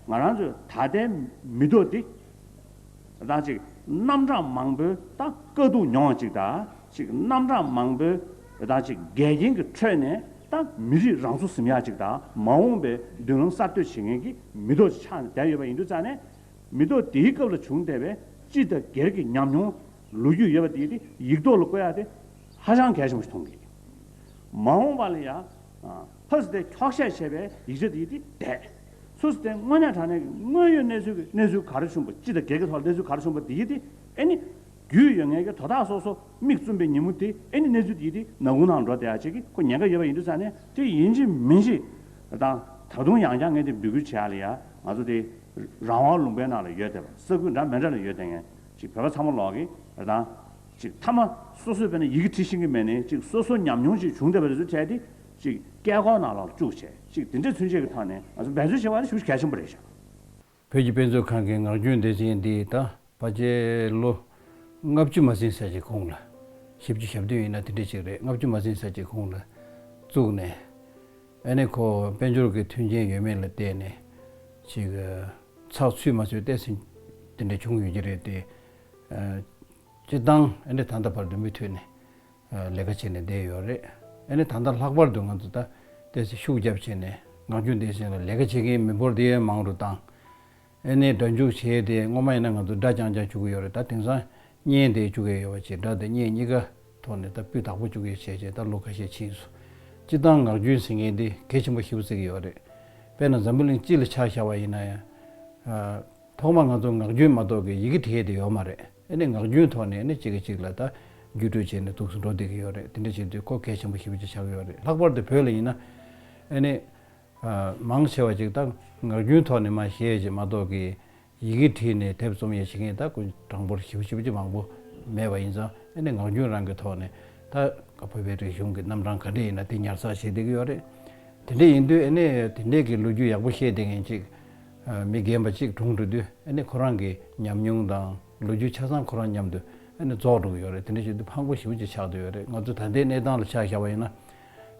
ང་རང་ཚོས་ད་ལྟའི་མི་ཐོག་འདི་རང་ཅིག་རྣམ་གྲངས་མང་པོའི་དང་དཀའ་སྡུག་མྱོང་བ་ཅིག་དང་ཅིག་རྣམ་གྲངས་མང་པོའི་རང་ཅིག་འགལ་རྐྱེན་གྱི་ཁྲོད་ནས་དང་མི་རིགས་རང་ཚུགས་ཟིམ་ཡག་ཅིག་དང་མ་འོངས་པའི་མདུན་ལམ་གསར་གཏོད་བྱེད་མཁན་གྱི་མི་ཐོག་ཅིག་ཆགས་ནས་བསྡད་ཡོད་པ་ཡིན་དུས་རྩ་ནས། མི་ཐོག་འདིའི་སྐབས་ལ་བྱུང་བསྡད་པའི་སྤྱི་དང་སྒེར་གྱི་ཉམས་མྱོང། ལོ་རྒྱུས་ཡོད་པ་དེ་དེ་ཡིག་ཐོག་ལ་བཀོད་ཡ་དེ་ཧ་ཅང་གལ་ཆེན་པོ་ཞིག་མཐོང་གིན། མ་འོངས་པ་ལ་ཡང་ཕུ་སི་ཐན་འཁྱོག་བཤད་བྱེད་པའི་ཡིག་ཆ་དེ་དེ་འདས། སུ་སི་ཐན་དངོས་གནས་དྲང་གནས་ཀྱི་དངོས་ཡོད་གནས་ཚུལ་གྱི་གནས་ཚུལ་ག་རེ་བྱུང་བ་སྤྱི་དང་སྒེར་གྱི་ཐོག་ལ་གནས་ཚུལ་ག་རེ་བྱུང་བ་དེ་དེ་ཨེ་ནི། རྒྱུས་ཡོད་ངེས་ཀྱི་དོ་བདག་སོ་སོ་མིག་བཙུམ་པའི་ཉིན་མོ་དེ་ཨེ་ནི་གནས་ཚུལ་དེ་དེ་ནག་ཁུང་ནང་འགྲོ་བསྡད་ཡ་བྱེད་ཀྱི་ཁོ་ཉེན་ཁ་ཡོད་པ་ཡིན་དུས་ས་ནས་དེ་ཡིན་གྱི་མིན་གྱི་དང་ད་དུང་ཡང་བསྐྱར་ངས་དེ་འབུད་སྐུལ་བྱེད་ཡ་ལ་ཡ་ང་ཚོ་དེ་རང་དབང་ལུང་པའི་ནང་ལ་ཡོད་བསྡད་པ་ས་ཁུལ་འདྲ་མེད་འདྲ་ལ་ཡོད་བསྡད་ངེས། ཅིག་བོད་པ་ཚང་མ་ལོག་གི་རེད་དང། ཅིག་མཐའ་མ་སོ་སོས་བོད་ནས་ཡི་གེ་བྲི་ཤེས་ཀྱི་མེད་ནས་ཅིག་སོ་སོ་ཉམས་མྱོང་ཅིག་བྱུང་བསྡད་པ་རེད་ཟུར་བྱས་ཏེ། ཅིག་སྐད་སྐོར་ནང་ལ་བཅུག་བྱས་ཅིག་དེ་འདྲས་ཚུན་ཆད་ཀྱི་ཐོག་ནས་ང་ཚོ་འབད་བརྩོན་བྱེད་པ་ནི་ཤུགས་གལ་ཆེན་པོ་རེད་བཞག། བོད་ཀྱི་དཔེ་མཛོད་ཁང་གི་ངག་རྒྱུན་སྡེ་ཚན་འདི་ད་བར་རྗེས་ལོ་ལྔ་བཅུ་མ་ཟིན་ཟེར་གྱི་གོང་ལ། བཞི་བཅུ་ཞབས་བདུན་ཡིན་ན་དེ་འདྲས་ཅིག་རེད་ལྔ་བཅུ་མ་ཟིན་ཟེར་གྱི་གོང་ལ་བཙུགས་ནས། ཨ་ནི་ཁོ་དཔལ་འབྱོར་གྱི་མཐུན་རྐྱེན་ཡོད་མེད་ལ་བལྟས་ནས་ཅིག། ཚགས་ཚུད་མ་ཚུད་བལྟས་ཟིན་དེ་འདྲ་བྱུང་ཡོད་ཀྱི་རེད་དེ། སྤྱིར་བཏང་ཨ་ནི་ད་ལྟ་བར་དུ་མུ་མཐུད་ནས་ལས་ཀ་བྱས་ནས་བསྡད་ཡོད་རེད། ཨ་ནི་ད་ལྟ་ལྷག་པར་དུ་ང་ཚོ་ད་ལྟའི་ཤུགས་རྒྱབ་བྱས་ནས་ངག་རྒྱུན་ལྡན་ཞིག་ལ་ལས་ཀ་བྱེད་མཁན་མི་འབོར་དེ་ཡང་མང་རུ་བཏང། ཨེ་ནས་སྒྲ་འཇུག་བྱས་ཏེ་སྔོན་མ་ཡིན་ན་ང་ཚོ་སྒྲ་རྐྱང་རྐྱང་བཅུག་གི་ཡོད་རེད་ད་དེང་སང་བརྙན་དེ་བཅུག་གི་ཡོད་བ་ཅིག་སྒྲ་དེ་བརྙན་གཉིས་ཀ་ཐོག་ནས་ད་སྤུས་དག་པོ་བཅུག་གི་བྱས་བྱས་ད་ལོ་ཁ་ཤས་ཕྱིན་སོང། སྤྱིར་བཏང་ངག་རྒྱུན་ཟེར་མཁན་དེ་གལ་ཆེན་པོ་ཤི་བོ་ཟེར་གི་ཡོད་རེད། དཔེར་ན་འཛམ་བུ་གླིང་སྤྱི་ལ་ཆ་བཞག་པ་ཡིན་ན་ཡང། ཐོག་མར་ང་ཚོ་ངག་རྒྱུན་མ་གཏོགས་ཀྱི་ཡི་གེ་དེ་དེ་ཡོད་མ་རེད་ཨེ་ནས་ངག་རྒྱུན་ཐོག་ནས་ཨེ་ནས་གཅིག་གིས་གཅིག་ལ་ད་བརྒྱུད་སྤྲོད་བྱས་ནས་འདུག་སུ་འགྲོ་བསྡད་ཀྱི་ཡོད་རེད་དེ་འདྲ་བྱེད་དུས་གོ་གལ་ཆེན་པོ་ཤི་བོ་ཅིག་ཆགས་ཀྱི་ཡོད་རེད་ལྷག་པར་དུ་བོད་ལ་ཡིན་ན་ཨེ་ནས། མང་ཆེ་བ་ཅིག་ད་ངག་རྒྱུན་ཐོག་ནས་མ་བཤད་ཅེས་མ་གཏོགས་ཀྱི་ཡི་གེ་བྲིས་ནས་དེབ་རྩོམ་ཡང་བྱེད་མཁན་དག་ཀུན་དྲང་པོར་ཞིབ་ཞིབ་ཀྱིས་མང་པོ་མེད་པ་ཡིན་ཙང་ཨེ་ནས་ངག་རྒྱུན་རང་གི་ཐོག་ནས་ད་ང་བོད་པའི་རིག་གཞུང་གི་རྣམ་གྲངས་ག་འདྲས་ཡིན་ན་དེ་ཉར་ཚགས་བྱེད་བསྡད་ཀྱི་ཡོད་རེད། དེ་འདྲས་ཡིན་དུས་ཨེ་ནས་དེ་འདྲས་ཀྱི་ལོ་རྒྱུས་ཡག་པོ་བཤད་བསྡད་མཁན་ཅིག་མི་རྒན་པ་ཅིག་གྲོངས་འགྲོ་དུས་ཨེ་ནས་ཁོ་རང་གི་ཉམས་མྱོང་དང་ལོ་རྒྱུས་ཆ་ཚང་ཁོ་རང་མཉམ་དུ་ཨེ་ནས་རྫོགས་འགྲོ་གི་ཡོད་རེད་དེ་འདྲས་བྱེད་དུས་ཕངས་པོ་ཞིབ་ཀྱིས་ཆགས་བསྡད་ཡོད་རེད་ང་ཚོ་ད་ལྟའི་གནས་སྟངས་ལ་ཆ་བཞག་པ་ཡིན་ན།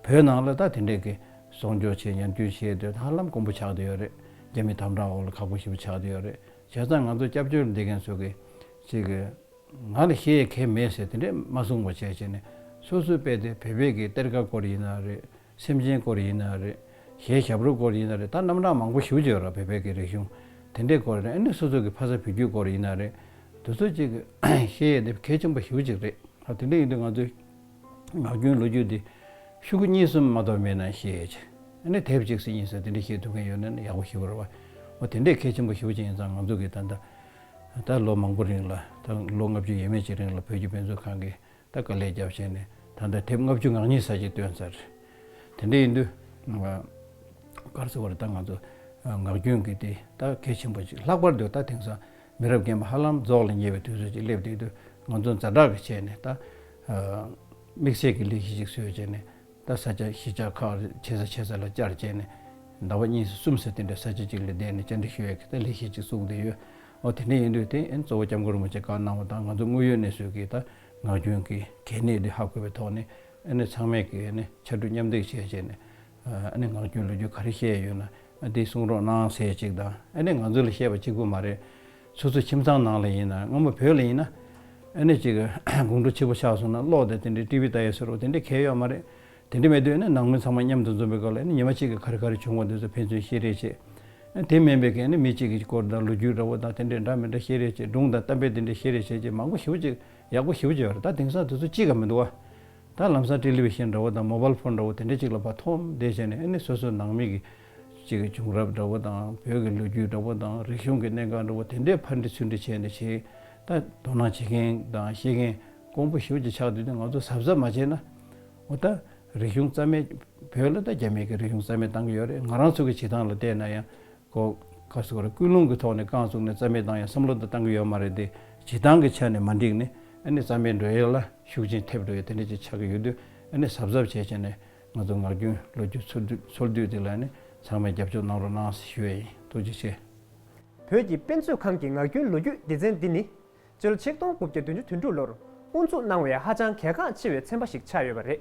བོད་ནང་ལ་ད་དེ་འདྲས་ཀྱི་གསོག་འཇོག་བྱེད་ཉམས་སྐྱུར་བྱེད་དུས་ཧ་ལམ་དཀོན་པོ་ཆགས་དུ་ཡོད་རེད་རྒྱ་མི་དམ་དྲག་འོག་ལ་ཁག་པོ་ཞིག་པོ་ཆགས་དུ་ཡོད་རེད་བྱས་ཙང་ང་ཚོ་སྐྱབས་བཅོལ་འདེད་མཁན་ཚོ་གིས་ཅིག་གི། ང་ལ་ཤེས་ཡས་གས་མེད་ཟེར་དེ་འདྲས་མ་གསུངས་པ་བྱས་བྱས་ནས་སོ་སོའི་དཔེ་དེ་བོད་པའི་གི་གཏེར་ཁ་སྐོར་ཡིན་ན་རེད་སེམས་ཅན་སྐོར་ཡིན་ན་རེད་གཞས་ཞབས་རོ་སྐོར་ཡིན་ན་རེད་ད་རྣམ་གྲངས་མང་པོ་ཞུ་བྱོས་ར་བོད་པའི་གི་རིག་གཞུང་དེ་འདྲས་སྐོར་ཡིན་ན་ནི་སོ་སོ་གི་ཕ་ས་བུ་རྒྱུད་སྐོར་ཡིན་ན་རེད་དུ་ཚོ་ཅིག་གི་ཤེས་ཡས་དེ་གས་ཆེན་པོ་ཞུ་བྱེད་རེད་ད་དེ་འདྲས་ཡིན་དུས་ང་ཚོའི། ངག་རྒྱུན་ལོ་རྒྱུས་འདི་ཤུག་གུ་གཉིས་གསུམ་མ་གཏོགས་མེད་ན་ཤེས། ནི་དེབ་གཅིག་ཟིན་ཡིན་ཟེར་དེ་འདྲ་ཤེས་ཐུབ་མཁན་ཡོད་ན་ནི་ཡག་པོ་ཞུ་རོགས། འོ་དེ་འདྲའི་གལ་ཆེན་པོ་ཞུ་བྱེད་ཡིན་ཙང་ང་ཚོ་གི་ད་ལྟ་ད་ལོ་མང་པོ་རིང་ལ་ད་ལོ་ལྔ་བཅུ་ཡས་མས་ཅིག་རིང་ལ་བོད་ཀྱི་དཔེ་མཛོད་ཁང་གིས་ད་དཀའ་ལས་རྒྱབ་བྱས་ནས་ད་ལྟ་དེབ་ལྔ་བཅུ་ངག་གཉིས་ས་ཅིག་བཏོན་ཚར། དེ་འདྲ་ཡིན་དུས། སྐར་ཚེ་བར་ད་ང་ཚོ་ངག་རྒྱུན་གི་འདི་ད་གལ་ཆེན་པོ་ཅིག་ལྷག་པར་དུ་ད་དེང་སང་མི་རབས་རྒན་པ་ཧ་ལམ་རྫོགས་ལ་ཉེ་བའི་དུས་ཚོད་ཅིག་སླེབས་བསྡད་དུས་ང་ཚོ་མཛའ་གྲགས་ཀྱིས་བྱས་ནས་ད། དམིགས་བསལ་གྱི་ལས་གཞི་ཅིག་བཟོས་བྱས་ནས་ད་ས་ཆ་གཞིས་ཆགས་ཁག་ཆེ་ས་ཆེ་ས་ལ་བཅར་བྱས་ནས། ཟླ་བ་གཉིས་སུ་གསུམ་སུ་དེ་འདྲའི་ས་ཆ་ཅིག་ལ་བསྡད་ནས་བཅར་འདྲི་ཞུ་ཡག་གི་ད་ལས་གཞི་ཅིག་བཙུགས་བསྡད་ཡོད། འོ་དེ་འདྲ་ཡིན་དུས་དེ་ཨེན་གཙོ་བོ་སྐྱབས་མགོན་རིན་པོ་ཆེ་བཀའ་གནང་བ་དང་ང་ཚོ་དངོས་ཡོད་གནས་ཚུལ་གྱི་ད་ངག་རྒྱུན་གྱི་གལ་གནད་འདི་ཧ་གོ་བའི་ཐོག་ནས་ཨེ་ནས་ཚང་མས་ཀྱི་ཨེ་ནས་ཕྱར་གྲུ་མཉམ་འདེགས་བྱས་བྱས་ནས་ཨ་ནི་ངག་རྒྱུན་ལོ་རྒྱུས་ག་རེ་བཤད་ཡོད་ན་དེ་གསུང་རོགས་གནང་ཟེར་ཅིག་དང་ཨ་ནི་ང་ཚོ་ལ་བཤད་པ་གཅིག་པུ་མ་རེད། ཚོད་ཚོད་ཁྱིམ་ཚང་ནང་ལ་ཡིན་ན་སྔ་མོ་བོད་ལ་ཡིན་ན་ཨ་ནི་ཅིག་དགུང་གྲོ་ཆིག་པ་ཆགས་སོང་ན་ཀློག་དེ་དེ་འདྲའི་ཏི་བི་ལྟ་ཡོད་ཟེར་རོགས་དེ་འདྲའི་གལ་ཡོད་མ་རེད། དེ་འདྲ་མེད་དུས་ཨ་ནི་ནང་མི་ཚང་མ་མཉམ་དུ་འཛོམས་པའི་སྐབས་ལ་ཨ་ནི་ཉི་མ་གཅིག་གི་ག་རེ་ག་རེ་བྱུང་བ་འདི་ཚོ་ཕན་ཚུན་བཤད་རེས་བྱེད། དེ་མིན་པའི་གན་ནི་མི་གཅིག་གི་སྐོར་དང་ལོ་རྒྱུས་འདྲ་བོ་དང་དེ་འདྲ་འདྲ་མི་འདྲ་བཤད་རེས་བྱེད་སྒྲུང་དང་གཏམ་དཔེ་དེ་འདྲ་བཤད་རེས་བྱེད་ཅེས་མང་པོ་ཞིབ་ཅིག་ཡག་པོ་ཞིབ་ཅིག་ཡོད་རེད་ད་དེང་སང་དེ་ཚོ་གཅིག་ག་མི་འདུག་ཨ། ད་ལམ་སཱ་ཏྲི་ལི་བྷི་ཤན་འདྲ་བོ་དང་མོ་བལ་ཕོན་འདྲ་བོ་དེ་འདྲའི་གཅིག་ལ་བ་ཐོམ་བསྡད་བྱས་ནས་ཨེ་ནི་སོ་སོའི་ནང་མི་གི། གཅིག་གི་བྱུང་རབས་འདྲ་བོ་དང་བོད་ཀྱི་ལོ་རྒྱུས་འདྲ་བོ་དང་རིག་གཞུང་གི་གནད་འགག་འདྲ་བོ་དེ་འདྲའི་ཕར་འདྲི་ཚུར་འདྲི་བྱས་ནས་བྱས། ད་དོ་སྣང་བྱེད་མཁན་དང་ཤེས་མཁན་ཀོང་པོ་ཞོལ་གྱི་ཕྱག་དེ་དུས་ང་ཚོ་གཟབ་གཟབ་མ་བྱས་ན། འོ་ད་རིག་གཞུང་རྩ་མེད་བོད་ལ་ད་རྒྱ་མི་གི་རིག་གཞུང་རྩ་མེད་བཏང་གི་ཡོད་རེད་ང་རང་ཚོ་གི་བྱེད་སྟངས་ལ་བལྟས་ན་ཡང། ཁོ་སྐབས་སུ་ཀུན་སློང་གི་ཐོག་ནས་རྐང་བཙུགས་ནས་རྩ་མེད་བཏང་ཡང་བསམ་བློ་དེ་བཏང་གི་ཡོད་མ་རེད་དེ། བྱེད་སྟངས་ཀྱི་ཆ་ནས་མ་འགྲིག་ནས་ཨ་ནི་རྩ་མེད་འགྲོ་ཡས་ལ་ཤུགས་རྐྱེན་ཐེབས་འགྲོ་ཡས་དེ་འདྲ་ཅིག་ཆགས་ཀྱི་ཡོད་དུས་ཨ་ནི་གཟབ་གཟབ་བྱས་བྱས་ནས་ང་ཚོ་ངག་རྒྱུན་ལོ་རྒྱུས་འཚོལ་དུས་དེ་ལ་ཨ་ནི་ཚང་མས་རྒྱབ་སྐྱོར་གནང་རོགས་གནང་ཞུ་ཡས་ཡིན་ཐུགས་རྗེ་ཆེ། བོད་ཀྱི་དཔེ་མཛོད་ཁང་གི་ངག་རྒྱུན་ལོ་རྒྱུས་སྡེ་ཚན་འདི་ནི་སྤྱིར་ཆིག་སྟོང་དགུ་བརྒྱ་བདུན་ཅུ་དོན་དྲུག་ལོར་དབུ་འཛུགས་གནང་བའི་ཧ་ཅང་གལ་འགངས་ཆེ་བའི་ཚན་པ་ཞིག་ཆགས་ཡོད་པ་རེད།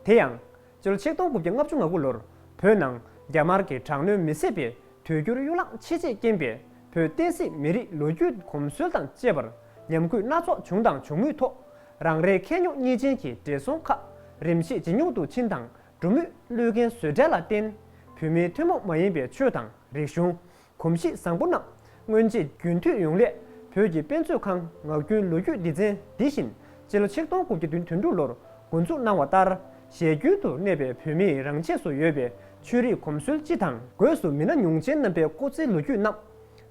དེ་ཡང། སྤྱིར་ཆིག་སྟོང་དགུ་བརྒྱ་ལྔ་བཅུ་ང་དགུ་ལོར་བོད་ནང་རྒྱ་དམར་གྱི་དྲག་གནོན་མི་བཟད་པའི་དུས་འགྱུར་གཡུ་ལངས་ཆེས་ཆེས་རྐྱེན་པས་བོད་བསྟན་སྲིད་མི་རིགས་ལོ་རྒྱུས་གོམས་སྲོལ་དང་བཅས་པར་ཉམས་གུད་སྣ་ཚོགས་བྱུང་དང་འབྱུང་མུས་ཐོག་རང་རེའི་ཁེ་ཉོག་གཉིས་ཅན་གྱི་བགྲེས་སོང་ཁག་རིམ་གྱིས་ཇེ་ཉུང་དུ་ཕྱིན་དང་འགྲོ་མུས་བློས་འགན་བཟོད་བྲལ་ལ་བརྟེན་བོད་མིའི་ཐུན་མོང་མ་ཡིན་པའི་ཆོས་དང་རིག་གཞུང། གོམས་གཤིས་བཟང་པོ་གནང། སྔོན་ཆད་རྒྱུན་མཐུད་ཡོང་སླད་བོད་ཀྱི་དཔེ་མཛོད་ཁང་ངག་རྒྱུན་ལོ་རྒྱུས་སྡེ་ཚན་འདི་བཞིན་སྤྱི་ལོ་ཆིག་སྟོང་དགུ་བརྒྱ་དོན་དོན་དྲུག་ལོར་འགོ་འཛུགས་གནང་བ་ལྟར་ཞལ་རྒྱུན་དུ་གནས་པའི་བོད་མིའི་རང་ཆས་སུ་ཡོད་པའི་ཆོས་རིག་གོམས་སྲོལ་སྤྱི་དང། སྒོས་སུ་མི་སྣ་ཉུང་ཅན་རྣམ་པའི་སྐོ་རྩིས་ལོ་རྒྱུས་རྣམས་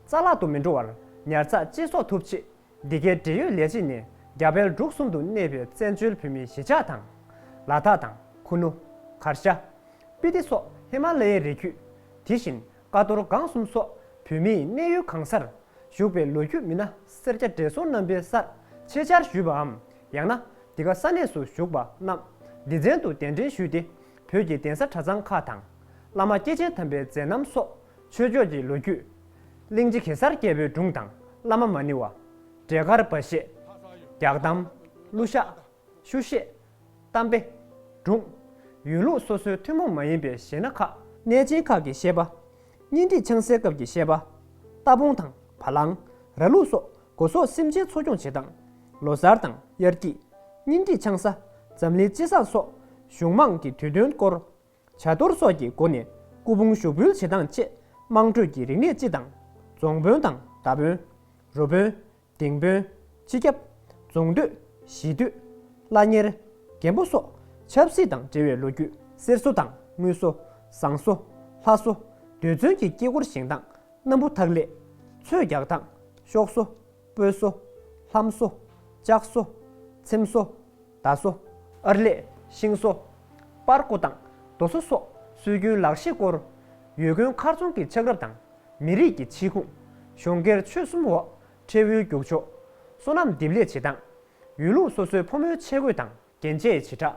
རྩ་བརླག་ཏུ་མི་འགྲོ་བར་ཉར་ཚགས་བཅད་གསོག་ཐུབ་ཆེད་འདི་གའི་འབྲེལ་ཡོད་ལས་བྱེད་ནས་རྒྱ་བལ་འབྲུག་གསུམ་དུ་གནས་པའི་བཙན་བྱོལ་བོད་མིའི་གཞིས་ཆགས་དང། ལ་དྭགས་དང་ཁུ་ནུ། གར་ཤ། སྤི་ཏི་སོགས་ཧི་མ་ལ་ཡའི་རི་རྒྱུད། དེ་བཞིན་ཀ་རྡོར་སྒང་གསུམ་སོགས་བོད་མིའི་གནས་ཡུལ་གང་སར་བཞུགས་པའི་ལོ་རྒྱུས་མི་སྣ་སེར་སྐྱ་བགྲེས་སོང་རྣམ་པའི་སར་ཆེད་བཅར་ཞུས་པའམ་ཡང་ན་འདི་ག་ས་གནས་སུ་བཞུགས་པ་རྣམས་འདི་ཚན་དུ་གདན་འདྲེན་ཞུས་ཏེ་བོད་ཀྱི་གདན་ས་གྲྭ་ཚང་ཁག་དང། བླ་མ་སྐྱེས་ཆེན་དམ་པའི་མཛད་རྣམ་སོགས་ཆོས་ཕྱོགས་ཀྱི་ལོ་རྒྱུས། གླིང་རྗེ་གེ་སར་རྒྱལ་པོའི་སྒྲུང་དང་བླ་མ་མ་ནི་བ། འབྲས་དཀར་སྦ་བཞེད། རྒྱག་གཏམ། གླུ་ཤགས། ཆུ་བཤད། གཏམ་དཔེ། སྒྲུང། ཡུལ་ལུང་སོ་སོའི་ཐུན་མོང་མ་ཡིན་པའི་གཞས་སྣ་ཁག། གནས་ཆེན་ཁག་གི་གཞས་པ། གཉེན་སྒྲིག་ཆང་བསྲེས་སྐབས་ཀྱི་གཞས་པ། རྟ་བོང་དང་བ་ལང། ར་ལུག་སོགས་སྒོ་ཟོག་སེམས་ཅན་འཚོ་སྐྱོང་བྱེད་སྟངས། ལོ་གསར་དང་དབྱར་སྐྱིད། གཉེན་སྒྲིག་ཆང་ས། འཛམ་གླིང་སྤྱི་བསང་སོགས་གཞུང་དམངས་ཀྱི་དུས་སྟོན་སྐོར། བྱ་གཏོར་སོགས་ཀྱི་སྒོ་ནས་སྐུ་ཕུང་ཞོ་འབུལ་བྱེད་སྟངས་བཅས་དམངས་ཁྲོད་ཀྱི་རིག་གནས་སྤྱི་དང། རྫོང་དཔོན་དང་བརྡ་དཔོན། རུ་དཔོན། སྡིངས་དཔོན། སྤྱི་ཁྱབ། རྫོང་སྡོད། གཞིས་སྡོད། བླ་གཉེར། རྒན་པོ་སོགས་ཆབ་སྲིད་དང་འབྲེལ་བའི་ལོ་རྒྱུས་གསེར་གསོ་དང་དངུལ་གསོ། ཟངས་གསོ། ལྷ་གསོ། རྡུལ་མཚོན་གྱི་དཀྱིལ་འཁོར་བཞེངས་སྟངས་སྣམ་བུ་འཐག་ལས། ཚོས་རྒྱག་སྟངས། ཤོག་གསོ། སྤོས་གསོ། ལྷམ་གསོ། ལྕགས་གསོ། ཚེམ་གསོ། ད་སོ། ཨར་ལས། ཤིང་བཟོ། པར་བརྐོ་དང། རྡོ་བཟོ་སོགས་སྲོལ་རྒྱུན་ལག་ཤེས་སྐོར། ཡུལ་དགོན་མཁར་རྫོང་གི་ཆགས་རབས་དང། མི་རིགས་ཀྱི་ཕྱི་ཁུངས། གཞུང་སྒེར་ཆོས་གསུམ་འོག་ཁྲལ་འུལ་རྒྱུག་ཆོག། སོ་ནམ་འདེབས་ལས་བྱེད་སྟངས། ཡུལ་ལུང་སོ་སོའི་ཕོ་མོའི་ཆས་གོས་དང་རྒྱན་ཆའི་བྱེ་བྲག།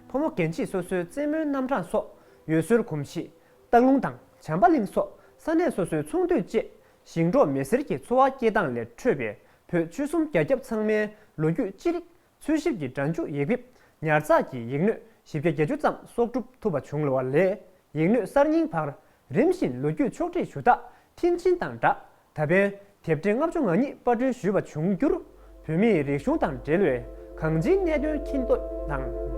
ཕོ་མོ་རྒན་བྱིས་སོ་སོའི་རྩེད་མོའི་རྣམ་གྲངས་སོགས་ཡུལ་སྲོལ་གོམས་གཤིས། སྟག་ལུང་དང་བྱམས་པ་གླིང་སོགས་ས་གནས་སོ་སོའི་ཚོང་དུད་བཅས་ཞིང་འབྲོག་མི་སེར་གྱི་འཚོ་བ་སྐྱེལ་སྟངས་ལས་འཕྲོས་པའི་བོད་ཆོལ་གསུམ་རྒྱ་ཁྱབ་ཚང་མའི་ལོ་རྒྱུས་ཅི་རིགས་འཚོལ་ཞིབ་ཀྱི་སྒྲ་འཇུག་ཡིག་འབེབས་ཉར་ཚགས་ཀྱི་ཡིག་སྣོད་བཞི་བརྒྱ་བརྒྱད་ཅུ་ཙམ་གསོག་སྒྲུབ་ཐུབ་པ་བྱུང་ལོ་བ་ལས་ཡིག་སྣོད་གསར་རྙིང་བར་རིམ་བཞིན་ལོ་རྒྱུས་ཕྱོགས་བསྒྲིགས་ཞུ་དག་མཐིལ་ཕྱིན་དང་སྦྲགས་ད་ཕན་དེབ་ཕྲེང་ལྔ་བཅུ་ང་གཉིས་དཔར་སྐྲུན་ཞུས་པ་བྱུང་རྒྱུར་བོད་མིའི་རིག་གཞུང་དང་འབྲེལ་བའི་གང་ཅིའི་གནད་དོན་མཁྱེན་རྟོགས་དང།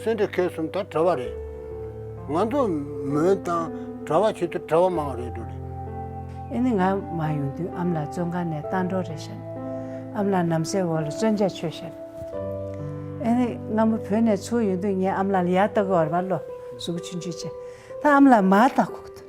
སེམས་འདི་ཁེ་གསུམ་དང་བྲལ་བ་རེད། ང་ཚོ་མོན་དང་གྲྭ་བ་བྱེད་དུ་བྲལ་བ་མང་བ་རེད་འདུག་རེད། ཨེ་ནི་ང་མ་ཡོང་དུས་ཨམ་ལ་བཙོན་ཁང་ནས་གཏང་འགྲོ་རེད་ཤར། ཨམ་ལ་ནམ་སའི་འོག་ལ་བཙོན་བྱ་ཆོད་ཤར། ཨེ་ནི་ང་མོ་བོད་ནས་ཚུར་ཡོང་དུས་ངས་ཨམ་ལ་ལ་ཡར་ལྟ་གི་བར་བར་ལོ་གཟུགས་ཆུན་ཆུན་བྱས། ད་ཨམ་ལ་མར་ལྟ་ཁོག་ཐུབ།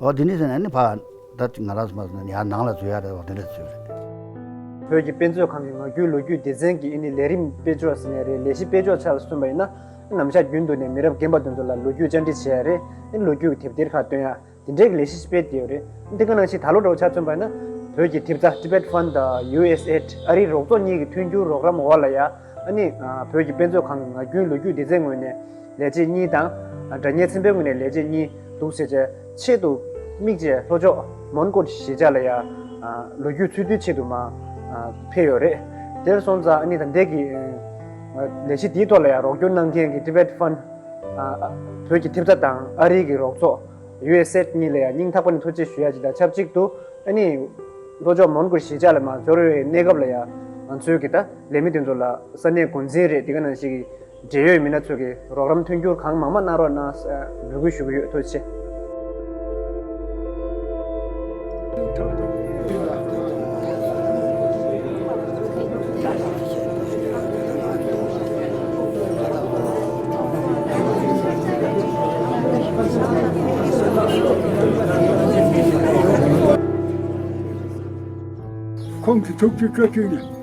ཨོ་དེ་ནས་ཟེར་ནས་ནི་ཕ། ད་ཅིག་ང་རང་སུ་མ་ཟེར་ནས་ཡར་ནང་ལ་འཛུལ་ཡ་རེད་ཨོ་དེ་འདྲ་ཟེར་ཞེས་པ་རེད། བོད་ཀྱི་དཔེ་མཛོད་ཁང་གི་ངག་རྒྱུན་ལོ་རྒྱུས་སྡེ་ཚན་གྱི་ཨིན་ནི་ལས་རིམ་དཔེ་ཅོག་ཟེར་ནས་རེད་ལས་གཞི་དཔེ་ཅོག་ཆ་ལ་སོན་པ་ཡིན་ན། ནམ་ཞག་རྒྱུན་དུ་ནས་མི་རབས་རྒན་པ་དེ་ཚོ་ལ་ལོ་རྒྱུས་བཅར་འདྲི་བྱས་ཡ་རེད་ཨིན་ལོ་རྒྱུས་ཀྱི་དེབ་ཐེར་ཁག་བཏོན་ཡ། དེ་འདྲའི་གི་ལས་གཞི་ཞིག་སྤེལ་དེ་ཡོད་རེད། འདི་ག་ནང་ཞིག་ད་ལོ་འགྲོ་བ་ཆ་བརྩོན་པ་ཡིན་ན། བོད་ཀྱི་དེབ་རྩ Tibet Fund དང USAID ཨ་རིའི་རོགས་ཚོགས་གཉིས་ཀྱི་མཐུན་འགྱུར་རོགས་རམ་འོག་ལ་ཡ། ཨ་ནི། བོད་ཀྱི་དཔེ་མཛོད་ཁང་གི་ངག་རྒྱུན་ལོ་རྒྱུས་སྡེ་ཚན་ངོས་ནས་ལས་བྱེད་གཉིས་དང། སྒྲ་སྙན་ཚན་པའི་ངོས་ནས་ལས་བྱེད་གཉིས་འདུག་ཟེར་བྱའི་ཆེད་དུ། དམིགས་བཅས་ལྷོ་ཕྱོགས་མོན་གྷོ་ཞེས་བྱ་ལ་ཡ། ལོ་རྒྱུས་འཚོལ་བསྡུའི་ཆེད་དུ་མ། ཕེབས་ཡོད་རེད། དེར་སོང་ཙང་ཨ་ནི་དང་འདས་ཀྱིས། ལས་གཞི་དེའི་ཐོག་ལ་ཡ་རོགས་སྐྱོར་གནང་མཁན་གྱི Tibet Fund། བོད་ཀྱི་ཐེབས་རྩ་དང་ཨ་རིའི་གྱི་རོགས་ཚོགས། USAID། གཉིས་ལ་ཡ་སྙིང་ཐག་པ་ནས་ཐུགས་རྗེ་ཞུ་ཡ་ཅིག་དང་ཆབས་ཅིག་ཏུ་ཨ་ནི། ལྷོ་ཕྱོགས་མོན་གྷོ་ཞེས་བྱ་ལ་མ་འབྱོར་བའི་གནས་སྐབས་ལ་ཡ། ང་ཚོའི་གི་ད། ལས་མི་དེ་ཚོ་ལ་ས་གནས་འགོ་འཛིན་རེད་དེ་ག་ནང་བཞིན་གྱི་འབྲེལ་ཡོད་མི་སྣ་ཚོ་གིས་རོགས་རམ་མཐུན་འགྱུར་གང་མང་མང་གནང་རོགས་གནང་ཞེས་འབོད་སྐུལ་ཞུ་གི་ཡོད་ཐུགས་རྗེ། ཁོང་གིས་ཐུགས་རྗེ་བཀྲ་ཤིས་ནས